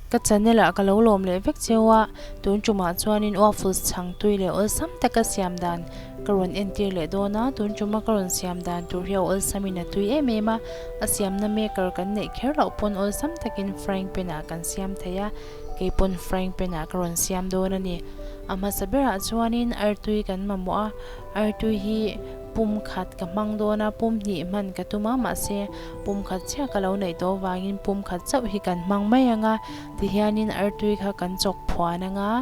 Ka channel ah ka lo lawm leh vek cheu a, tun tumah chuanin waffles chhangtui leh awlsam te ka siam dan ka rawn entir leh dawn a, tun tuma ka rawn siam dan tur hi a awlsam in a tui em em a, a siamna maker kan neih kher loh pawn awlsam takin frying pan ah kan siam thei a. Kei pawn frying pan ah ka rawn siam dawn a ni. A hmasa ber ah chuan in artui kan mamawh a, artui hi pum khat ka hmang dawn a, pum hnih hman ka tum a, mahse pum khat chiah ka lo neih tawh vang in pum khat chauh hi kan hmang mai ang a, ti hian in artui kha kan chawk phuan ang a,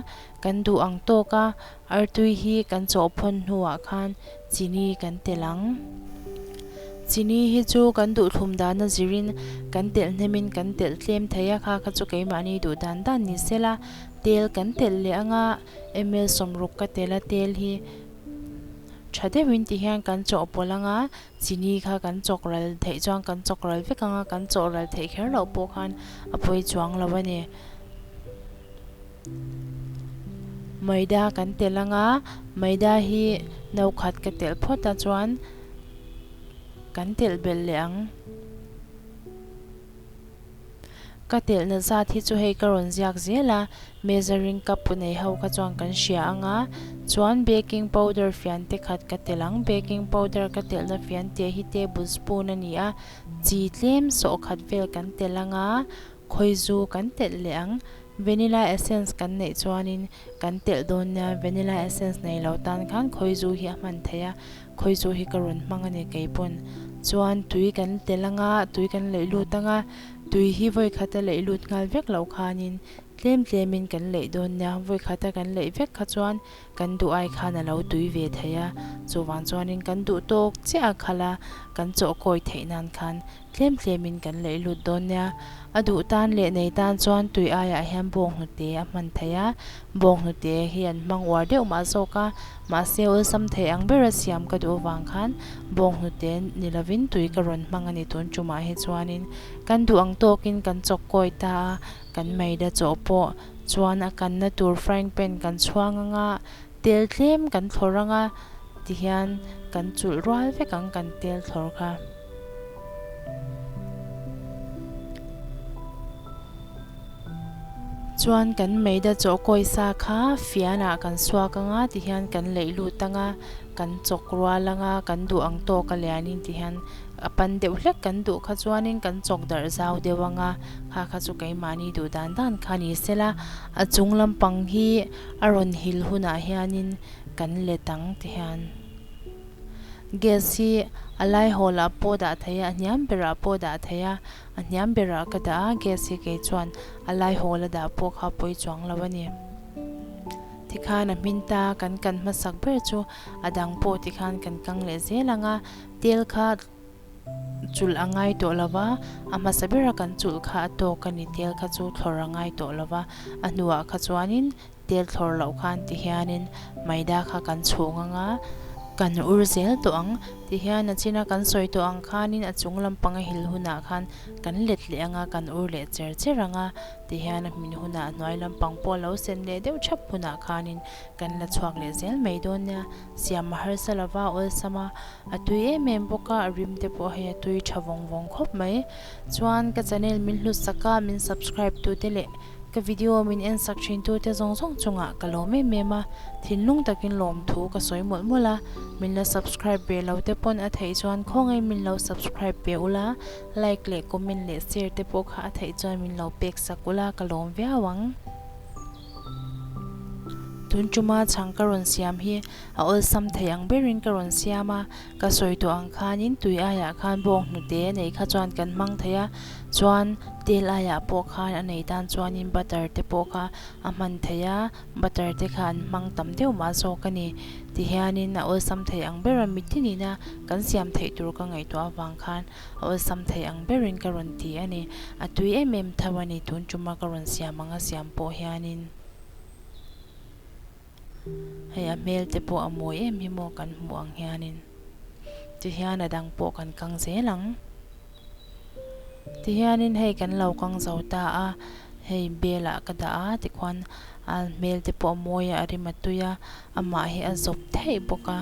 kan duh ang tawk a, Artui hi kan chawhphawn hnuah khan chini kan telh ang. Chini hi chu kan duhthlum dana zirin kan telh hnemin kan telh tlem thei a, kha kha chu keimahni duh dan dan ni sela tel kan telh leh anga ml sawm ruk ka telh a, tel hi tha deuhin ti hian kan chawhpawlh anga chini kha kan chawk ral theih chuan kan chawk ral vek anga kan chawh ral theih kher loh pawh khan a pawi chuang lo a ni. Maida kan telh anga, Maida hi nokhat ka telh phawt a chuan kan telh belh leh ang. Ka telhna zat hi chu hei ka rawn ziak zel a, Measuring cup pu nei ho kha chuan kan hria anga, chuan baking powder fian te khat ka telh ang. Baking powder ka telhna fian te hi table spoon a ni a, chi tlem sawhkhat vel kan telh anga, khawizu kan telh leh ang. Vanilla essence kan neih chuanin kan telh dawn nia, vanilla essence nei lo tan khan khawi zu hi a hman theih a, khawi zu hi ka rawn hmang a ni kei pawn. Chuan tui kan tel ang a, tui kan leih lut ang a, tui hi vawikhata leih lut nghal vek loh khanin tlem tlemin kan leih dawn nia, vawikhata kan leih vek kha chuan, Kan duh ai khan a lo tui ve thei a, chuvang chuanin kan duh tawk chiaha khala kan chawh kawi theih nan khan tlem tlemin kan laih lut dawn nia. A duh tan leh nei tan chuan tui aiah hian bawng hnute a hman thei a, bawng hnute hi an hmang uar deuh mah zawk a, mahse awlsam thei ang bera siam ka duh avang khan bawng hnute ni lovin tui ka rawn hmang a ni tun tumah hi chuanin kan duh ang tawkin kan chawk kawi ta a, Kan meida chaw pawh chuan a kanna tur frying pan kan chhuang ang a, tel tlem kan thlawrh ang a ti hian kan chulh rual vek ang kan tel thlawrh kha. Chuan kan meida chaw kawisa kha fianah kan suak ang a ti hian kan leih lut ang a, kan chawk rual ang a, kan duh ang tawk a lianin ti hian a pan deuh hlek kan duh kha chuanin kan chawk darh zau deuh ang a. Kha kha chu keimahni duh dan dan kha ni sela, a chung lampang hi a rawn hil hunah hianin kan let ang ti hian. Gas hi a lai hawlah pawh dah thei a, a hniam berah pawh dah thei a, a hniam berah ka dah a, gas hi kei chuan a lai hawla dah pawh kha pawi chuang lo a ni. Ti khan a hmin ta, kan kan hmasak ber chu a dang pawh ti khan kan kang leh zel ang a, tel kha. chulh a ngai tawh lo va, a hmasa bera kan chulh kha a tawk a ni, tel kha chu thlawrh a ngai tawh lo va, a hnuah kha chuanin tel thlawrh loh khan ti hianin Maida kha kan chhuh ngang a, kan ur zel tawh ang ti hian a chin a, kan sawi tawh ang khanin a chung lampang a hil hunah khan kan let leh anga kan ur leh cher cher ang a ti hian a hmin hunah hnuai lampang pawh a lo sen leh deuh thap hunah khanin kan la chhuak leh zel mai dawn nia. siam a harsa lova awlsam a, a tui em em bawk a, a rim te pawh hei a tui tha vawng vawng khawp mai. Chuan ka channel min hlusak a, min subscribe tu te leh ka video min en sak thin tu te zawng zawng chungah ka lawm em em a, thinlung takin lawm thu ka sawi mawlh mawlh a, min la subscribe ve lo te pawn a theih chuan khawngaih min lo subscribe ve u la, like leh comment leh share te pawh kha a theih chuan min lo pek sak u la ka lawm viau ang. Tun tuma chhang ka rawn siam hi a awlsam thei ang berin ka rawn siam a, ka sawi tawh ang khanin tui aiah khan bawk hnute nei kha chuan kan hmang thei a, chuan tel aiah pawh khan a nei tan chuanin butter te pawh kha a hman thei a, butter te kha an hmang tam deuh mah zawk a ni. Tihianin a awlsam thei ang ber a, mitini na kan siam theih tur ka ngaihtuah avang khan A awlsam thei ang berin ka rawn ti a ni. A tui em em tho a ni. Tun ṭuma ka rawn siam ang a siam pawh hianin hei a hmel te pawh a mawi em hi maw kan hmuh ang hianin tihian a dang pawh kan kang zel ang. Tihianin hei kan lo kang zo ta a, hei belah ka dah a tikhuan a hmel te pawh a mawi a, a rim a tui a, amah hi a zawp theih bawk a.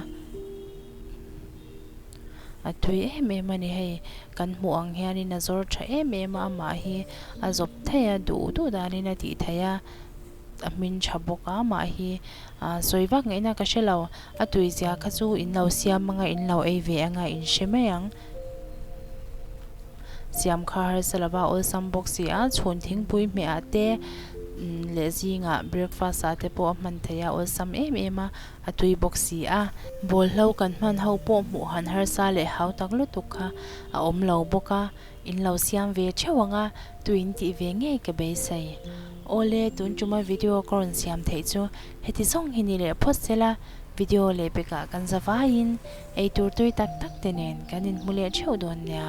A tui em em a ni hei. Kan hmuh ang hianin a zawr tha em em a, amah hi a zawp thei a, duh duh danin a tih theih a, a hmin tha bawk a, mah hi ahh sawi vak ngei na ka hre lo, a tui zia kha chu in lo siam anga in lo ei ve anga in hre mai ang. Siam kha harsa lova awlsam bawk si a, chhun thingpui hmeh ah te leh zingah breakfast ah te pawh a hman thei a, awlsam em em a, A tui bawk si a, ball hlo kan hman ho pawh hmuh han harsa leh hau tak lutuk kha a awm lo bawk a, in lo siam ve theuh ang a, tui in tih ve ngei ka beisei. Awle, tun tuma video ka rawn siam theih chu heti zawng hi ni leh phawt sela, video leh pekah kan zavaiin eitur tui tak tak te nen kan inhmu leh theuh dawn nia.